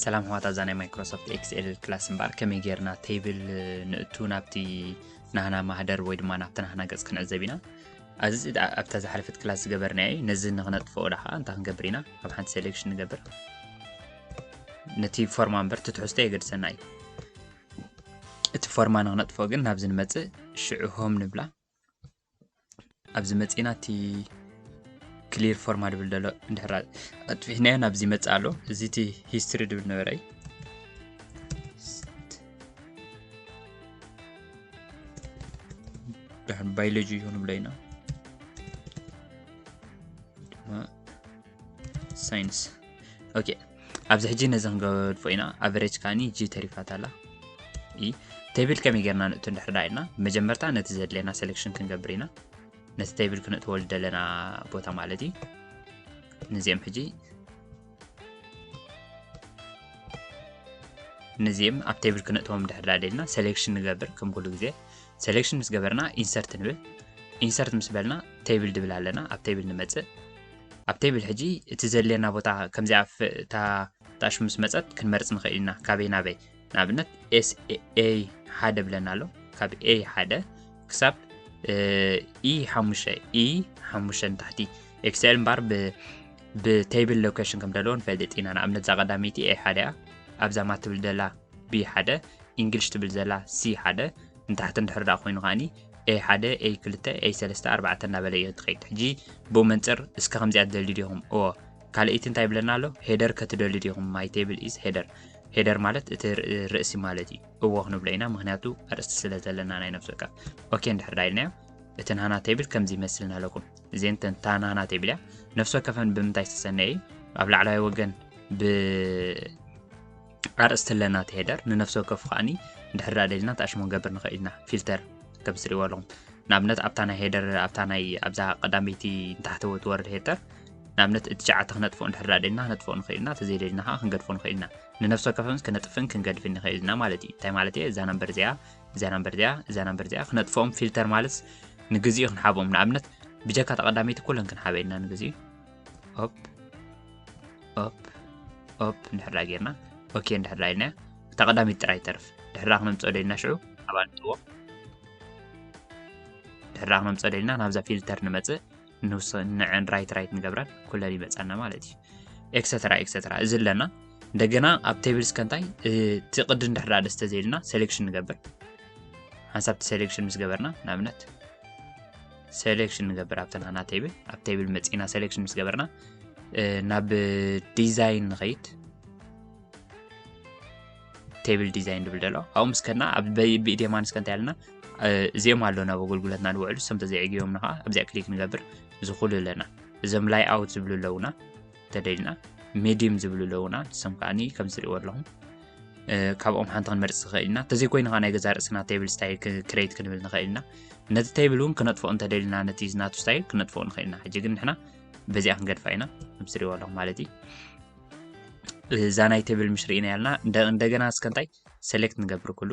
ሰላም ኣሕዋት ኣብዛ ናይ ማይክሮሶፍት ኤክስኤል ክላስ እምበኣር ከመይ ጌርና ቴብል ንእቱ ናብቲ ናህና ማህደር ወይ ድማ ናብቲ ናህና ገፅ ክንዕዘብ ኢና ኣዚ ኣብታ ዝሓለፈት ክላስ ዝገበርና እዩ ነዚ ንክነጥፍኦ ዳ ከዓ እንታይ ክንገብር ኢና ኣብ ሓንቲ ሴሌክሽን ንገብር ነቲ ፎርማ እምበር እቲ ትሕዝቶ የገድሰና እዩ እቲ ፎርማ ንክነጥፍኦ ግን ናብዚ ንመፅእ ሽዑ ሆም ንብላ ኣብዚ መፂና እቲ ክሊር ፎርማ ድብል ደሎ እንድሕራ ኣጥፊሕናዮ ናብዚ ይመፅእ ኣሎ እዚ እቲ ሂስትሪ ድብል ነበረ እዩ ድሕን ባዮሎጂ ይኹን ብለይና ሳይንስ ኦኬ ኣብዚ ሕጂ ነዚ ክንገድፎ ኢና ኣቨሬጅ ከዓኒ ጂ ተሪፋት ኣላ ኢ ቴብል ከመይ ጌርና ንእቱ እንድሕር ዳ ኢልና መጀመርታ ነቲ ዘድለየና ሴሌክሽን ክንገብር ኢና ነቲ ቴብል ክንእትዎ ዝደለና ቦታ ማለት እዩ ንዚኦም ሕጂ ንዚኦም ኣብ ቴብል ክንእትዎም ድሕር ዳ ደልና ሴሌክሽን ንገብር ከም ኩሉ ግዜ ሴሌክሽን ምስ ገበርና ኢንሰርት ንብል ኢንሰርት ምስ በልና ቴብል ድብል ኣለና ኣብ ቴብል ንመፅእ ኣብ ቴብል ሕጂ እቲ ዘድልየና ቦታ ከምዚኣ ኣፍ እታ ጣሽ ምስ መጸት ክንመርጽ ንኽእል ኢና ካበይ ናበይ ንኣብነት ኤስኤ ሓደ ብለና ኣሎ ካብ ኤ ሓደ ክሳብ ኢ ሓሙሽተ ኢ ሓሙሽተ ንታሕቲ ኤክስኤል እምበር ብቴብል ሎኬሽን ከም ደለዎ ንፈልጥ ኢና ንኣብነት እዛ ቀዳመይቲ ኤ ሓደ እያ ኣብዛ ማት ትብል ዘላ ቢ ሓደ ኢንግሊሽ ትብል ዘላ ሲ ሓደ ንታሕቲ እንድሕር ደኣ ኮይኑ ከዓኒ ኤይ ሓደ ኤይ ክልተ ኤይ ሰለስተ ኣርባዕተ እናበለ እዮ ትኸይድ ሕጂ ብኡ መንጽር እስከ ከምዚኣ ትደልዩ ዲኹም እዎ ካልእይቲ እንታይ ይብለና ኣሎ ሄደር ከ ትደልዩ ዲኹም ማይ ቴብል ኢዝ ሄደር ሄደር ማለት እቲ ርእሲ ማለት እዩ እዎ ክንብሎ ኢና ምክንያቱ ኣርእስቲ ስለ ዘለና ናይ ነፍሲ ወከፍ ኦኬ እንድሕር ዳ ኢልናዮ እቲ ናህና ቴብል ከምዚ ይመስል ናለኩም እዚን ተንታ ናህና ቴብል እያ ነፍሲ ወከፈን ብምንታይ ዝተሰነየ እዩ ኣብ ላዕላዊ ወገን ብ ኣርእስቲ ኣለና እቲ ሄደር ንነፍሲ ወከፉ ከኣኒ እንድሕር ደኣ ደሊና ትኣሽሙ ክንገብር ንኽእል ኢና ፊልተር ከም ትርእይዎ ኣለኹም ንኣብነት ኣብታ ናይ ሄደር ኣብታ ናይ ኣብዛ ቀዳመይቲ ንታሕቲ ወትወርድ ሄደር ንኣብነት እቲ ሸዓተ ክነጥፍኦ እንድሕር ደኣ ደሊና ክነጥፍኦ ንኽእል ኢና ተዘይደሊና ከዓ ክንገድፎ ንኽእል ኢና ንነፍሲ ወከፈምስ ክነጥፍን ክንገድፍን ንኽእል ኢና ማለት እዩ እንታይ ማለት እየ እዛ ነምበር እዚኣ እዛ ነምበር እዚኣ እዛ ነምበር እዚኣ ክነጥፍኦም ፊልተር ማለት ንግዚኡ ክንሓቦም ንኣብነት ብጀካ ተቐዳመይቲ ኩለን ክንሓበ ኢልና ንግዚኡ ኦፕ ኦፕ ኦፕ እንድሕር ጌርና ኦኬ እንድሕር ኢልና እታ ቀዳሚት ጥራይ ተርፍ ድሕራ ክነምፀ ደልና ሽዑ ኣብ ኣንጥዎ ድሕራ ክነምፀ ደልና ናብዛ ፊልተር ንመፅእ ንዕን ራይት ራይት ንገብረን ኩለን ይመፀና ማለት እዩ ኤክሰትራ ኤክሰትራ እዚ ኣለና እንደገና ኣብ ቴብል እስከ እንታይ እቲ ቅዲ እንድሕራ ደስ ተዘይልና ሴሌክሽን ንገብር ሓንሳብቲ ሴሌክሽን ምስ ገበርና ንኣብነት ሰሌክሽን ንገብር ኣብተን ኣና ቴብል ኣብ ቴብል መፂና ሰሌክሽን ምስ ገበርና ናብ ዲዛይን ንኸይድ ቴብል ዲዛይን ድብል ደሎ ኣብኡ ምስ ከድና ኣብ ብኢዴማን እስከ እንታይ ኣለና እዚኦም ኣለዉ ናብ ኣገልግሎትና ንውዕሉ ሰምተ ዘይዕግቦምና ከዓ ኣብዚኣ ክሊክ ንገብር ዝኽሉ ኣለና እዞም ላይ ኣውት ዝብሉ ኣለውና ተደሊና ሜድም ዝብሉ ኣለውና ንሶም ከዓኒ ከም ዝሪእዎ ኣለኹም ካብኦም ሓንቲ ክንመርፅ ንኽእል ኢና እንተዘይኮይኑ ከዓ ናይ ገዛ ርእስና ቴብል ስታይል ክሬት ክንብል ንኽእል ኢና ነቲ ቴብል እውን ክነጥፍኦ እንተደሊና ነቲ ናቱ ስታይል ክነጥፍኦ ንኽእል ኢና ሕጂ ግን ንሕና በዚኣ ክንገድፋ ኢና ከም ዝሪእዎ ኣለኹም ማለት እዩ እዛ ናይ ቴብል ምሽ ርኢና ያልና እንደገና እስከ እንታይ ሴሌክት ንገብር ኩሉ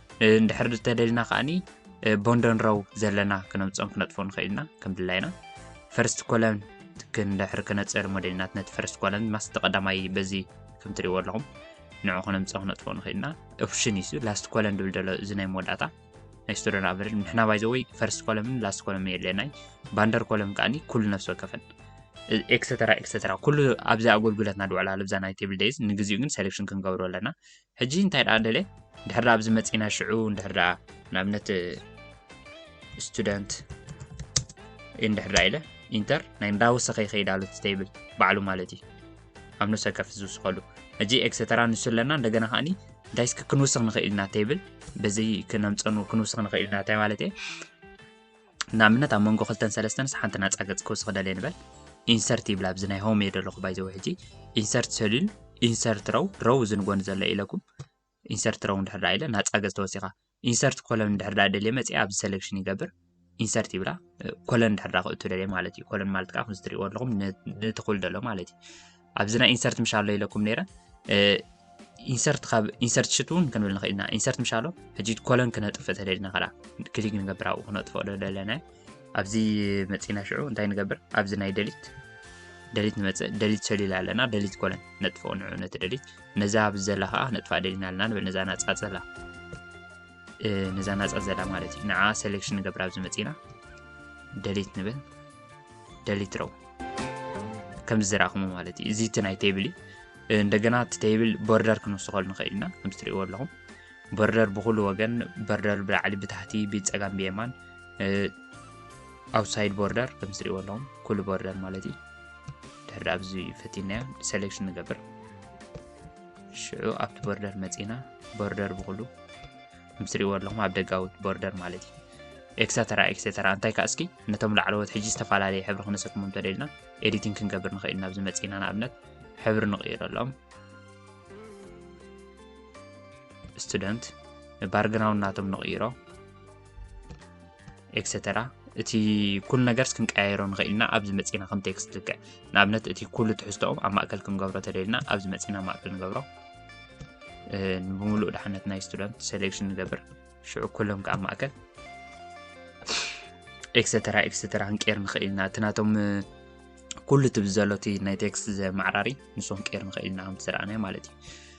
እንድሕር እንተደሊና ከኣኒ ቦንደንረው ዘለና ክነምፅኦም ክነጥፎ ንኽእል ኢና ከም ድላይና ፈርስት ኮለን ክንድሕር ክነፅር ሞዴልናት ነቲ ፈርስት ኮለን ማስቲ ቀዳማይ በዚ ከም ትሪእዎ ኣለኹም ንዑ ክነምፅኦ ክነጥፎ ንኽእል ኢና ኦፕሽን እዩ ላስት ኮለን ድብል ደሎ እዚ ናይ መወዳእታ ናይ ስቱደንት ኣቨሬጅ ንሕና ባይ ዘወይ ፈርስት ኮለምን ላስት ኮለም የለናይ ባንደር ኮለም ከዓኒ ኩሉ ነፍሲ ወከፈን ኤክሰተራ ኤክሰተራ ኩሉ ኣብዚ ኣገልግሎትና ድውዕላ ልብዛ ናይ ቴብል ደይዝ ንግዚኡ ግን ሴሌክሽን ክንገብሮ ኣለና ሕጂ እንታይ ደኣ ደለ ድሕር ደኣ ኣብዚ መጺና ሽዑ እንድሕር ደኣ ንኣብነት ስቱደንት እንድሕር ደኣ ኢለ ኢንተር ናይ እንዳወሰኸ ይኸይድ ኣሎ ቴብል ባዕሉ ማለት እዩ ኣብ ነብሰ ከፍ ዝውስኸሉ ሕጂ ኤክሰተራ ንሱ ኣለና እንደገና ከዓኒ እንታይ እስኪ ክንውስኽ ንኽእል ኢና ቴብል በዚ ክነምፀኑ ክንውስኽ ንኽእል ኢና እንታይ ማለት እየ ንኣብነት ኣብ መንጎ ክልተን ሰለስተንስ ሓንቲ ናጻ ገጽ ክውስኽ ደልየ ንበል ኢንሰርት ይብል ኣብዚ ናይ ሆም እየ ዘለኹ ባይዘወ ሕጂ ኢንሰርት ሰሊል ኢንሰርት ረው ረው እዚ ንጎኒ ዘሎ ኢለኩም ኢንሰርት ረው እንድሕር ዳኣ ኢለ ናጻ ገጽ ተወሲኻ ኢንሰርት ኮለን እንድሕር ዳኣ ደልየ መጽየ ኣብዚ ሰሌክሽን ይገብር ኢንሰርት ይብላ ኮለን እንድሕር ዳኣ ክእቱ ደልየ ማለት እዩ ኮለን ማለት ከዓ ከምዚ ትሪእዎ ኣለኹም ንትኹል ደሎ ማለት እዩ ኣብዚ ናይ ኢንሰርት ምሻሎ ኢለኩም ነይረ ኢንሰርት ካብ ኢንሰርት ሽት እውን ክንብል ንኽእል ኢና ኢንሰርት ምሻሎ ሕጂ ኮለን ክነጥፍ ተደልና ከኣ ክሊክ ንገብር ኣብኡ ክነጥፍኦ ዘለና ኣብዚ መፂና ሽዑ እንታይ ንገብር ኣብዚ ናይ ደሊት ደሊት ንመፅእ ደሊት ሰሊላ ኣለና ደሊት ኮለን ነጥፍኦ ንዑ ነቲ ደሊት ነዛ ኣብዚ ዘላ ከዓ ነጥፋ ደሊና ኣለና ንብል ነዛ ናፃ ዘላ ነዛ ናፃ ዘላ ማለት እዩ ንዓ ሴሌክሽን ንገብር ኣብዚ መፂና ደሊት ንብል ደሊት ረው ከምዚ ዝረእኹሞ ማለት እዩ እዚ እቲ ናይ ቴብል እዩ እንደገና እቲ ቴብል ቦርደር ክንውስኸሉ ንኽእል ኢና ከምዚ ትሪእዎ ኣለኹም ቦርደር ብኩሉ ወገን ቦርደር ብላዕሊ ብታሕቲ ብፀጋም ብየማን ኣውትሳይድ ቦርደር ከምዚ ትሪእዎ ኣለኹም ኩሉ ቦርደር ማለት እዩ ድሕሪ ኣብዚ ፈቲናዮ ሴሌክሽን ንገብር ሽዑ ኣብቲ ቦርደር መፂና ቦርደር ብኩሉ ምስ ትሪእዎ ኣለኹም ኣብ ደጋዊ ቦርደር ማለት እዩ ኤክሰተራ ኤክሰተራ እንታይ ከዓ እስኪ ነቶም ላዕለዎት ሕጂ ዝተፈላለየ ሕብሪ ክነሰክሞ እንተደልና ኤዲቲንግ ክንገብር ንኽእል ናብ ዝመፅና ንኣብነት ሕብሪ ንቕይረሎም ስቱደንት ባርግራውንድ ናቶም ንቕይሮ ኤክሰተራ እቲ ኩሉ ነገርስ ክንቀያየሮ ንኽእል ኢና ኣብዚ መፂና ከም ቴክስት ልክዕ ንኣብነት እቲ ኩሉ ትሕዝቶኡ ኣብ ማእከል ክንገብሮ ተደልና ኣብዚ መፂና ማእከል ንገብሮ ብምሉእ ድሓነት ናይ ስቱደንት ሴሌክሽን ንገብር ሽዑ ኩሎም ከዓ ማእከል ኤክሰተራ ኤክሰተራ ክንቀይር ንኽእል ኢና እቲ ናቶም ኩሉ እቲ ብዘሎ እቲ ናይ ቴክስት ዘማዕራሪ ንሱ ክንቀይር ንኽእል ኢና ከምቲ ዝረኣናዮ ማለት እዩ